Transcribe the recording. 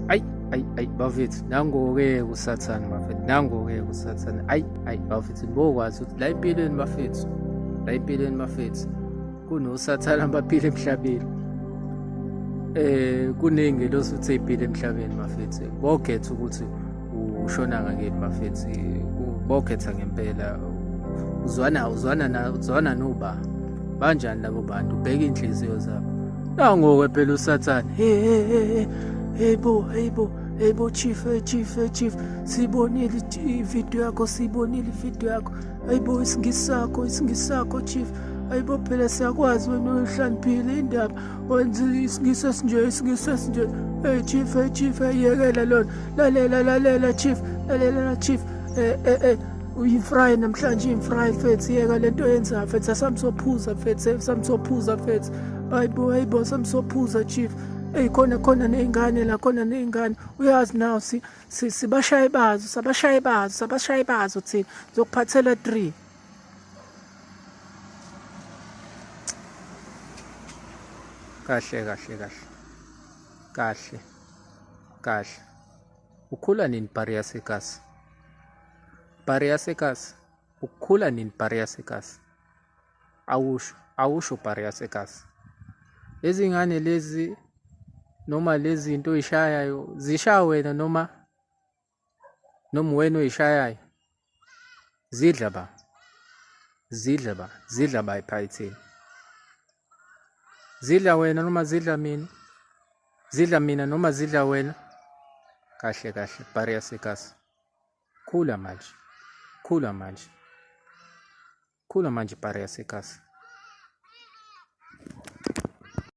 ayi ayi ayi bafethu nango-ke kusathane bafethu nango-ke kusathane ayi ayi bafethu bokwazi ukuthi la empilweni bafethu la empilweni bafethu kunosathane abaphila emhlabeni eh kuningi losuthe iphile emhlabeni bafethu bogetha ukuthi ushona ngakini bafethu bokhetha ngempela uzwana uzwana na uzwana noba banjani labo bantu ubheka inhliziyo zabo nangoke phela usathane hey hey hey hey bo hey bo hey bo chief hey chief hey chief sibonile ivideo yakho sibonile ivideo yakho hey bo isingisakho isingisakho chief ayibo phela siyakwazi wena uhlaniphile indaba ngisesinje ngisesinje hey chief hey chief yekela lona lalela lalela chief lalela chief eh eh eh uyifry namhlanje imfry mfethu yeka lento yenza mfethu asamsophuza mfethu asamsophuza mfethu hayibo hayibo asamsophuza chief eyi khona khona ney'ngane la khona ney'ngane uyazi naw sibashaye bazo sabashaye bazo sabashaye bazo thina zokuphathela three kahle kahle kahle kahle kahle ukhula nini bhari yasekasi bhari yasekasi ukhula nini bhari yasekasi awusho awusho bhari yasekasi lezi ngane lezi noma lezi zinto oyishayayo zishaya wena noma noma uwena oyishayayo zidla ba zidla ba zidla ba ephayithini zidla wena noma zidla mina zidla mina noma zidla wena kahle kahle bariya sekasi khula manje khula manje khula manje bariya sekasi